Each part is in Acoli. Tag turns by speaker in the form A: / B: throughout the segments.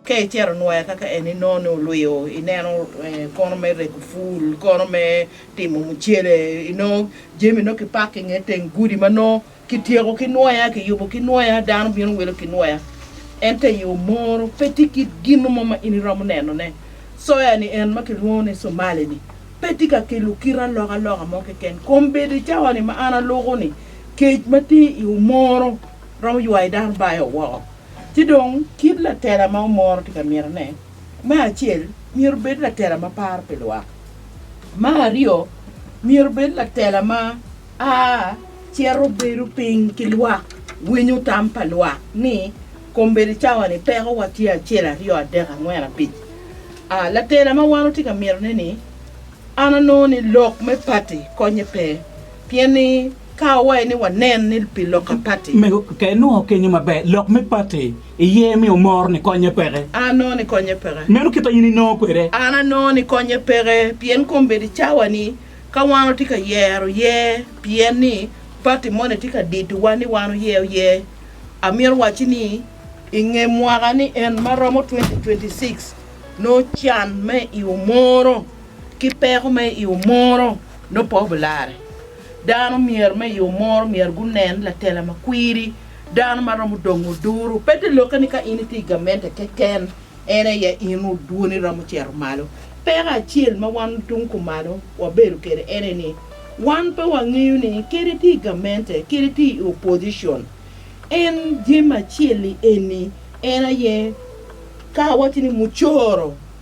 A: Ka icito nwoya kaka en inongo ni olwiyo, ineno kono me rego pul, kono me timo mucele, inongo jami nongo kipako i nge teng gudi ma nongo kityeko ki nwoya, kiyubo ki nwoya, dano bino wilo ki nwoya. Ento i yo moro pe tye kit gin mo ma in iromo nenone. Soya-ni en ma kilwongo ni Somali-ni pe tye ka kelo kite alokaloka mo keken. Kombedo i cawa-ni ma an aluko-ni, kec ma tye i yo moro romo ywayo dano bayo woko. Ci dong, kit latela ma omoro tye ka mitone, me acel, myero obed latela ma paro pi lwak. Me aryo, myero obed latela ma a cito bedo piny ki lwak, winyo tam pa lwak ni, Kombeddi cawa-ni pekowa tye acel, aryo, adek, angwen, abic. A Latela ma wan watye ka mitone-ni, an anongo ni lok me pati konnye pe. Pien ni ka wawaye ni wanen ni pi lok a pati. Mego ka inongo
B: kenyo maber lok me pati iye mi omor ni konye peke. An anongo ni konye peke.
A: Meno kite in inongo
B: kwede. An anongo ni konye
A: peke pien kombeddi cawa ni ka wan watye ka yero ye pien ni pati moni tye ka dito wa ni wan oyeo ye. Amito wacci ni inge mwaka ni en ma romo 2026 nongo can me i omoro ki peko me i omoro nongo pe obilarre. Dano myero me yo moro myero gunen latela ma kwiri, dano ma romo dongo duru. Pe te lokke ni ka in itye i gamente keken en aye in dwoni romo cito malo. Peko acel ma wan tung kumalo wabedo kwede ene ni wan pe wangeyo ni kadi itye i gamente kadi itye i opposition, en Jim Acel-li eni en aye ka awaco ni mucoro.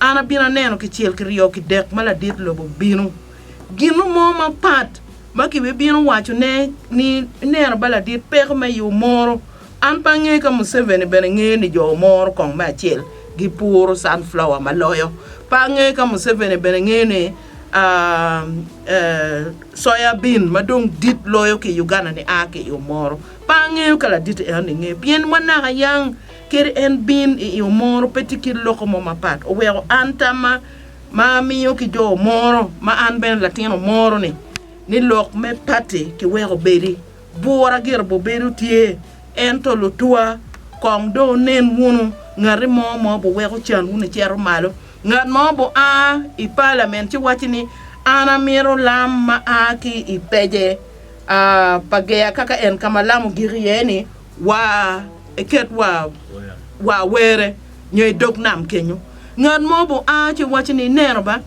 A: An abino aneno kicel ki ryo ki dek ma ladit lobo bino. Gino mo mapat ma kibibino waco ne ni ineno ba ladit peko me yo moro. An pe angeyo ka Museveni bene ngeyo ni jo moro kong me acel gi puro sunflower ma loyo. Pe angeyo ka Museveni bene ngeyo ni soya bean ma dong dit loyo ki Uganda ni aa ki yo moro. Pe angeyo ka ladit enoni ngeyo pien wanaka yang. Kadi en bin i omoro pe tye kit loko mo mapat. Oweko an tamma ma amiyo ki jo omoro ma an bene latin omoro ni, ni lok me pati ki weko obedi. Bura gire bo bedo tye, ento lutwa kong do wunen wunu ngati mo ma obo weko can wunu icito malo. Ngat ma obo a i palament ci waci ni an amito lam ma a ki i pece a pa geya kaka en ka ma lam ogik iye ni, wa eket wa wa were nyo i dog nam kenyo ngat mo bu a ci waco ni ineno ba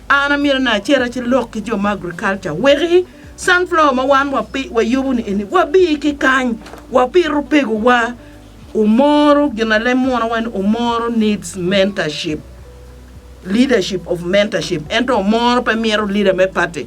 A: an amyero ni acera ci lok ki jo ma agriculture weki sunflower ma wan wa pi wa yubu ni eni wa bi ki kany wa pito pego wa omoro gin alem munu wa ni omoro needs mentorship leadership of mentorship ento omoro pe mito leader me party